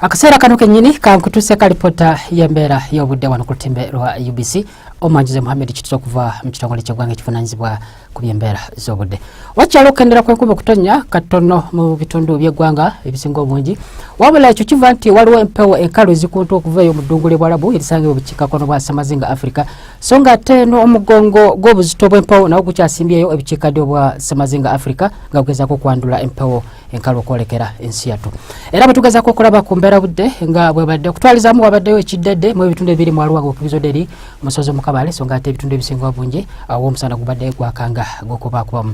akaseera kano kenyini kankutuse ka lipota y'embeera y'obudde wano ku lutimbe lwa ubc omwanjuzi muhammed kituza okuva mu kitongole ky'eggwanga ekivunanyizibwa ku by'embeera z'obudde wakyalo okukendera kw'enkuba okutonnya katono mu bitundu by'eggwanga ebisinga obungi wabula ekyo kiva nti waliwo empewo enkalu ezikuntu okuva eyo mu ddungu ly'ebwalabu erisangibwa obukiikakkono bwa samazinga africa so nga ate n'omugongo gw'obuzito bw'empewo nawo gukyasimbyeyo ebukiikaddyo obwa samazinga africa nga gugezaako okwandula empewo enkalu okwolekera ensi yattu era bwetugezako okulaba ku mbeera budde nga bwebadde okutwalizamu wabaddeyo ekiddedde mu ebitundu ebiri mu aluwa gokubizoderi musozi mukabale so nga ate ebitundu ebisinga obungi awo omusana gubadde gwakanga gwokubakubamu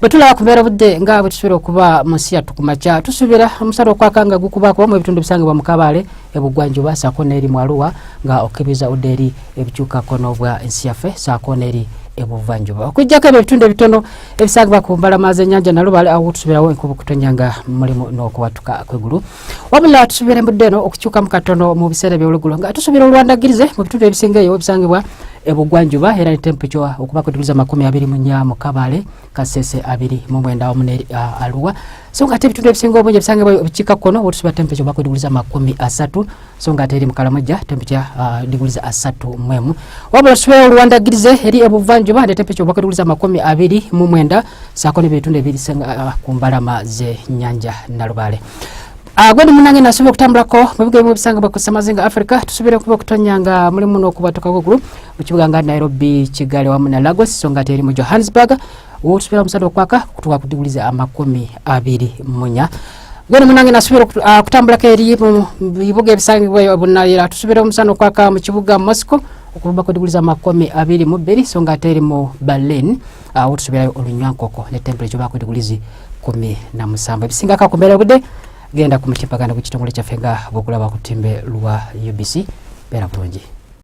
bwetulaba ku mbeera budde nga bwetusuubira okuba mu nsi yattu kumakya tusuubira omusana okwakanga gukubakuba mu ebitundu ebisangibwa mu kabale ebugwanjuba saako neeri mu aluwa nga okukebeza udde eri ebikyukako n'obwa ensi yaffe saako neeri ebuvanjuba okujjako ebyo ebitundu ebitono ebisagibwa ku mbalama z'ennyanja nalubale awo tusuubirawo enkubu kutonya nga mulimu n'okuwatuka kwegulu wabula tusuubira embudde eno okukyukamu katono mu biseera eby'olugulo nga tusuubira olwandagirize mu bitundu ebisinga eyo ebisangibwa ebugwanjuba era ne tempeco okuba ku digiri z'amakumi abiri mu nnya mu kabale kasese abiri mu mwenda wamu ne aluwa so nga ate ebitundu ebisinga obungi ebisangibwa ebikiikakkono wotusuubira tempeco okuba ku digiri z'amakumi asatu so nga ate eri mukalamajja temperature uh, diguli za asatu mwemu wabula tusubira oluwandagirize eri ebuvanjuba ne temperature obwaka diguli za makumi abiri mu mwenda saako n'ebitundu ebirisanga uh, ku mbalama z'ennyanja nalubaale uh, gwedi munange nasuubira okutambulako mu bigo ebimu ebisangibwa ku ssemazinga africa tusubire okuba okutonya nga mulimu n'okubwatuka kwegulu mu kibuga nga nairobi kigali wamu na lagos so nga ate eri mu johannesburg wotusubira omusana okwaka kutuka ku diguli za amakumi abiri munya gwene munange nasubira ah, kutambulako eri mu bibuga ebisangibwa bunayira tusubira omusana okwaka mu kibuga mosco okuvuba ku diguli z'amakumi abiri mu bbiri so nga ate eri mu berlin ah, awo tusubirayo olunywankoko ne temperature baku diguli zi kumi na musanvu ebisingako ku mbeera obudde genda ku mutimbagano gw'ekitongole kyaffe nga bwokulaba ku timbe lwa ubc beera bulungi